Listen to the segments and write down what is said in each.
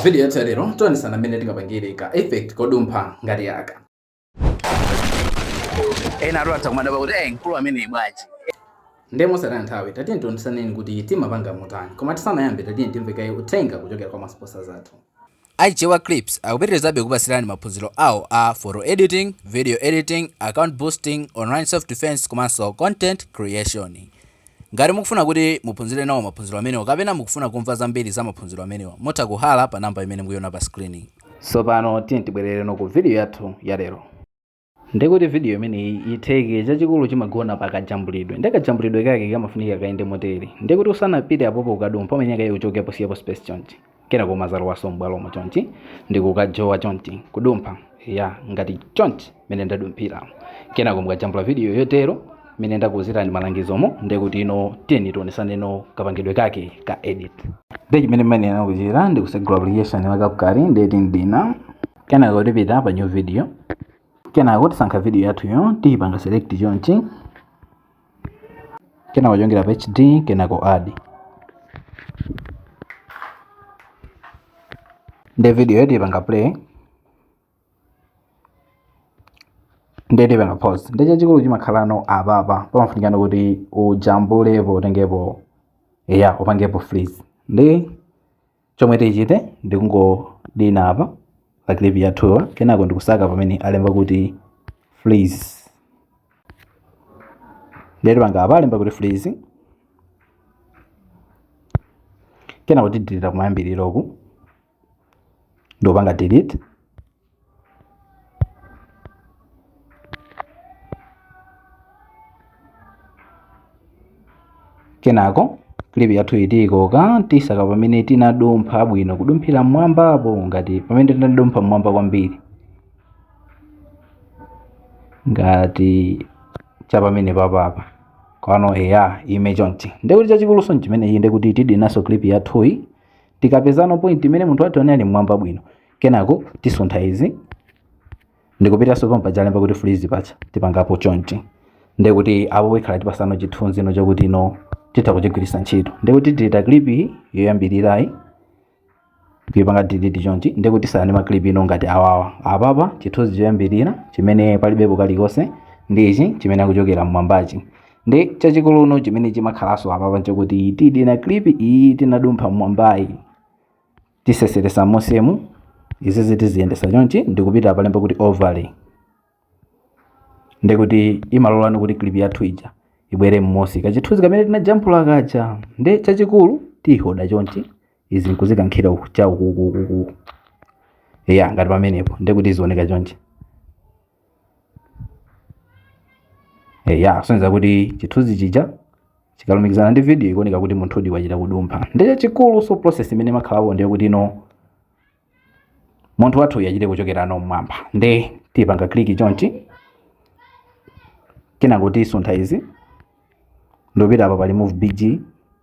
Video yathu ya lero tionesana mmene tingapangire ka effect kodumpha ngati aka. ena athu atha kumadabwa kuti eh mkulu ameneyi bwanji Ndiye mosataya nthawi tatiyeni tionesaneni kuti timapanga motani koma tisanayambe tatiyeni timve kaye uthenga kuchokera kwa ma sponsors athu. a Chichewa Clips akupitirizabe kupatsirani maphunziro awo a photo editing video editing account boosting online self defense komanso content creation Ngati mukufuna kuti muphunzire nawo maphunziro amenewa kapena mukufuna kumva zambiri za maphunziro amenewa, mutha kuyala pa number imene mukuiona pa screen-yi. Tsopano tiyeni tibwerereno ku video yathu ya lero. Ndiye kuti video imeneyi itheke, chachikulu chimagona pa kajambulidwe. Ndiye kajambulidwe kake kamafunika kayende motere. Ndiye kuti usanapite apopo kukadumpha umenye kaye uchokepo usiyepo space chonchi. kenako umazalowaso m'bwalomo chonchi ndikukajowa chonchi kudumpha ya ngati chonchi mene ndadumphira kenako mukajambula video yotero mene ndakuuzirani malangizomo ndekuti ino tiyeni tionesaneno kapangidwe kake ka edit nde chimene timayenera kuchita ndikutsegula application la CapCut nde tidina kenako tipita pa new video kenako tisankha video yathuyo tiyipanga select chonchi kenako tichongera pa hd kenako add nde video yi tipanga play nde tipanga pause nde chachikulu chimakhalano apapa pamafunikano kuti ujambulepo utengepo ya upangepo freeze ndi chomwe tichite ndikungodina apa pa clip yathuyi kenako ndikusaka pamene alemba kuti freeze ndiye tipanga apa alemba kuti freeze kenako tidilira kumayambiriroku ndikupanga delete kenako clip yathuyi tiikoka tisaka pamene tinadumpha bwino kudumphira mmwambapo ngati pamene tinadumpha mmwamba kwambiri ngati cha pamene papapa kwano eya ime chonchi ndekuti chachikuluso nchimenechi ndekuti tidinaso clip yathuyi tikapezano point imene munthu wathuyi ali mmwamba bwino kenako tisuntha izi ndikupitanso pomwe paja alemba kuti freeze paja tipangapo chonchi ndiye kuti apo ikhala itipatsano chithunzi no chakuti no titha kuchigwiritsa ntchito ndiye kuti tidilita clip iyi yoyambirirayi kuipanga delete chonchi ndiye kuti tisiyano ma clip no ngati awawa apapa chithunzi choyambirira chimene palibepo kalikonse ndi ichi chimene akuchokera mmwambachi nde chachikulu no chimene chimakhalanso apapa nchakuti tidina clip iyi tinadumpha mmwambayi tiseseresa mmusimu izizi tiziyendesa chonchi ndikupita palemba kuti overlay ndekuti imalolano kuti clip yathu ija ibwere mmusi kachithunzi kamene tinajambula kaja nde chachikulu tiyihoda chonchi izi nkuzikankhira uku- cha ukukukuku ya ngati pamenepo ndekuti izioneka chonchi eya sonyeza kuti chithunzi chija chikalumikizana ndi video ikuoneka kuti munthudi wachita kudumpha nde chachikulu so process imene imakhalapo ndiye kuti no munthu wathu uyu achite kuchokera no mmwamba nde tipanga click chonchi kenako tisuntha izi ndopita apa pali remove bg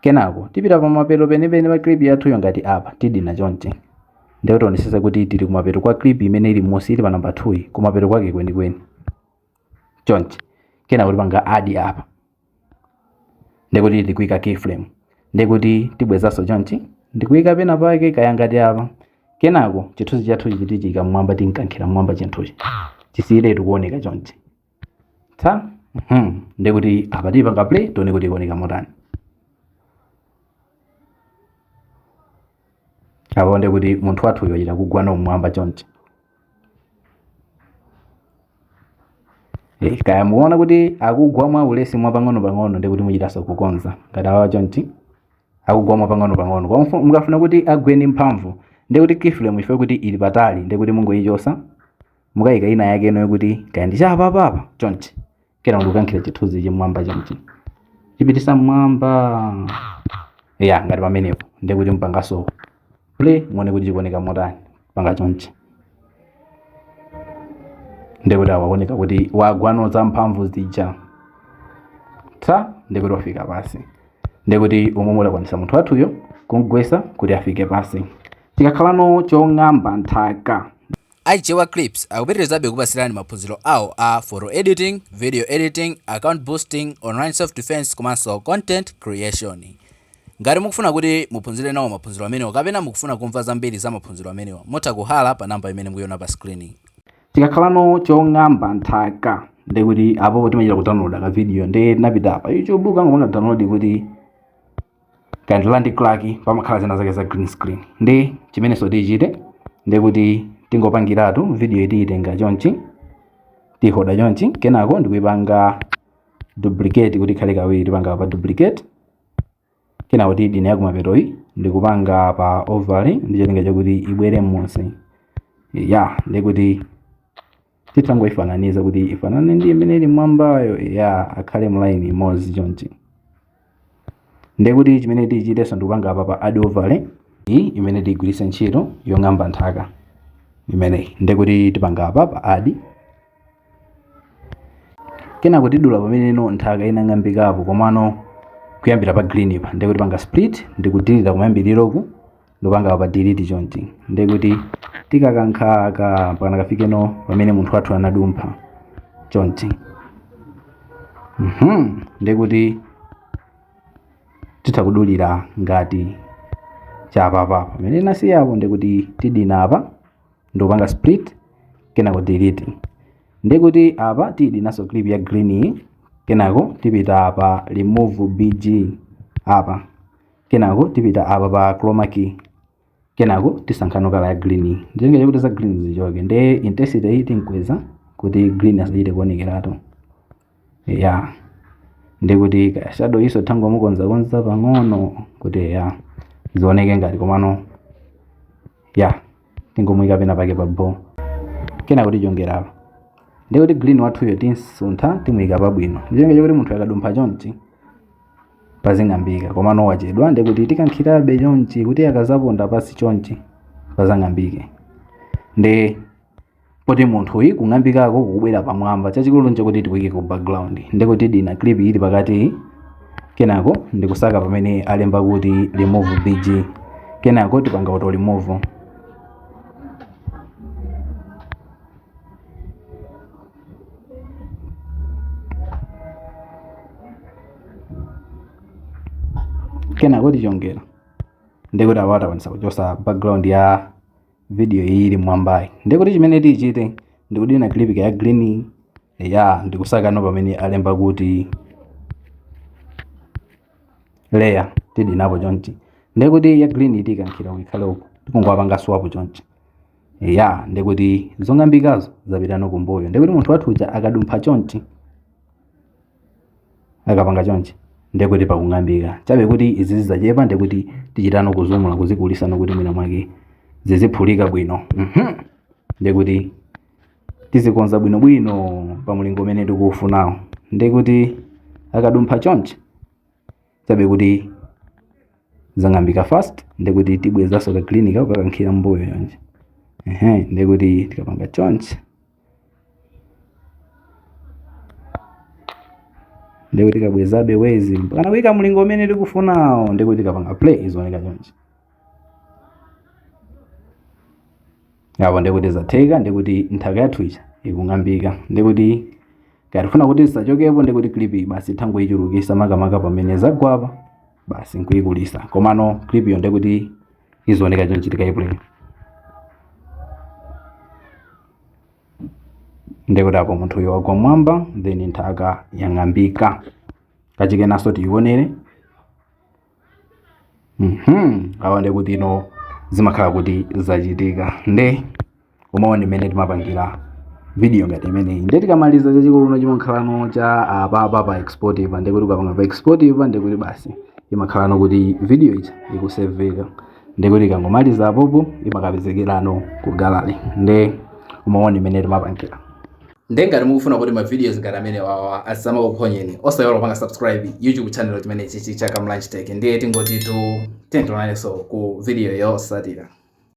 Kenako tipita pamapeto penipeni pa clip yathuyo ngati apa tidina chonchi. Ndiye tionetsetse kuti tili kumapeto kwa clip imene ili m'munsi ili pa number 2 yi, kumapeto kwake kwenikweni. Chonchi. Kenako tipanga add apa. Ndiye kuti tikuika keyframe. Ndiye kuti tibwezanso chonchi ndi kuika penapake kaya ngati apa. Kenako chithunzi chathuchi tichiika m'mwamba tinkankhira m'mwamba chinthuchi. Chisiyiretu kuoneka chonchi. ta mhm, ndekuti apa tipanga play tione kuti ikuoneka motani apa ndekuti munthu wathu uyo achita kugwa no mmwamba chonchi Eh, kaya mukuona kuti akugwa mwa ulesi mwa pang'ono-pang'ono ndekuti muchitanso kukonza ngati awa chonchi akugwa mwa pang'ono-pang'ono Kwa mfu- mukafuna kuti agwe ndi mphamvu ndekuti keyframe ife kuti ili patali ndekuti mungoyichosa mukayika ina yake ino yokuti kaya ndi cha apapa apa chonchi kenako ndikukankhira chithunzichi mmwamba chonchi chipitisa mmwamba ya ngati pamenepo ndiye kuti mpangaso play muone kuti chikuoneka motani panga chonchi ndiye kuti awaoneka kuti wagwano za mphamvu zija tsa ndiye kuti wafika pasi ndiye kuti umo mwakwanisa munthu wathuyo kumgwesa kuti afike pasi chikakhalano chong'amba nthaka A Chewa Clips akupitirizabe kukupatsirani maphunziro awo a photo editing, video editing, account boosting, online self defense komanso content creation. Ngati mukufuna kuti muphunzire nawo maphunziro amenewa kapena mukufuna kumva zambiri za maphunziro amenewa, mutha kuhala pa namba imene mukuiona pa screen. chikakhalano chong'amba nthaka ndekuti apo timachita kudownloada ka video nde tinapita pa youtube kangopanga download kuti kaya ndi land crack pamakhala zina zake za green screen ndi chimenenso tichite ndekuti tingopangiratu videoyi tiyitenga chonchi tihoda chonchi kenako ndikuipanga duplicate kuti ikhale kawiri tipanga pa duplicate kenako tidine yakumapetoyi ndikupanga pa overlay ndi cholinga chakuti ibwere m'munsi ya ndekuti titangoifananiza kuti ifanane ndi imene ili mwambayo ya akhale mulaini imodzi chonchi ndiye kuti chimene tichitenso ndikupanga apa pa add overlay iyi imene tigwiritse ntchito yong'amba nthaka imeneyi ndiye kuti tipanga apa pa add kenako tidula pamene ino nthaka inang'ambikapo komano kuyambira pa green pa ndiye kuti panga split ndikudilita kumayambiriroku ndupanga apa delete chonchi ndiye kuti tikakankha aka mpaka nakafikeno pamene munthu wathu anadumpha chonchi mhm ndiye kuti titha kudulira ngati cha apapa pamene nasiya apo ndiye kuti tidina apa ndupanga split kenako delete ndiye kuti apa tidinaso clip ya green iyi kenako tipita apa remove bg apa kenako tipita apa pa chroma key kenako tisankhano kala ya green ndicholinga chakuti za green zichoke nde intensity iyi tinkweza kuti green asachite kuonekeratu ya ndiye kuti ka shadow-nso tingomukonzakonza pang'ono kuti ya zioneke ngati komano ya tingomuyika pena pake pa bo kenako tichongera apa ndiye kuti green wathuyo timsuntha timuyika pabwino ndicholinga chakuti munthu akadumpha chonchi pazing'ambika komano wachedwa ndiye kuti tikankhirabe chonchi kuti akazaponda pasi chonchi pazang'ambike nde poti munthuyi kung'ambikako kukubwera pamwamba chachikulu nchakuti tikuike ku background ndiye kuti tidina clip ili pakati kenako ndikusaka pamene alemba kuti remove bg kenako tipanga auto remove kenako tichongera ndiye kuti apa takwanisa kuchosa background ya video iyi ili mwambayi ndiye kuti chimene tichite ndikudina clip ya green ya ndikusakano pamene alemba kuti layer tidinapo chonchi ndiye kuti ya green tikankhira kuti ikhale uko tikungopanga swap chonchi ya ndiye kuti zong'ambikazo zapitano kumbuyo ndiye kuti munthu wathu uja akadumpha chonchi akapanga chonchi ndiye kuti pakung'ambika chabe kuti izi zizachepa ndiye kuti tichitano kuzumula kuzikulisano kuti mwina mwake ziziphulika bwino Mhm. ndiye kuti tizikonza bwinobwino pa mlingo umene tikuufunawo ndiye kuti akadumpha chonchi chabe kuti zang'ambika fast ndiye kuti tibwezanso ka green kako kukakankhira mbuyo chonchi ehe ndiye kuti tikapanga chonchi ndiye kuti tikabwezabe wezi mpakana kuika mlingo umene tikufunawo ndiye kuti tikapanga play zioneka chonchi apo ndikuti zatheka ndikuti nthaka yathu ija ikung'ambika ndikuti ngati tifuna kuti zisachokepo ndikuti clip iyi basi tangoyichulukisa makamaka pamene zagwapa basi nkuyikulisa komano clip iyo ndikuti izioneka chonchi tikaiplay ndikuti apo munthu uyo wagwa mwamba then nthaka yang'ambika kachikenanso tiyionere Mhm, awa ndi kuti no zimakhala kuti zachitika nde mwaona mmene timapangira video ngati imeneyi nde tikamaliza chachikulu no chimakhala no cha apapa pa export ipa ndi kuti ukapanga pa export ipa ndi kuti basi imakhala no kuti video ija ikuseveka ndi kuti ikangomaliza apopo imakapezekerano ku gallery nde mwaona mmene timapangira nde ngati mukufuna kuti ma videos ngati amene wawa asamakuphonyeni osayiwala kupanga subscribe youtube channel chimene chichi cha kamlanch tech ndiye tingoti tiyeni tionanenso ku video yotsatira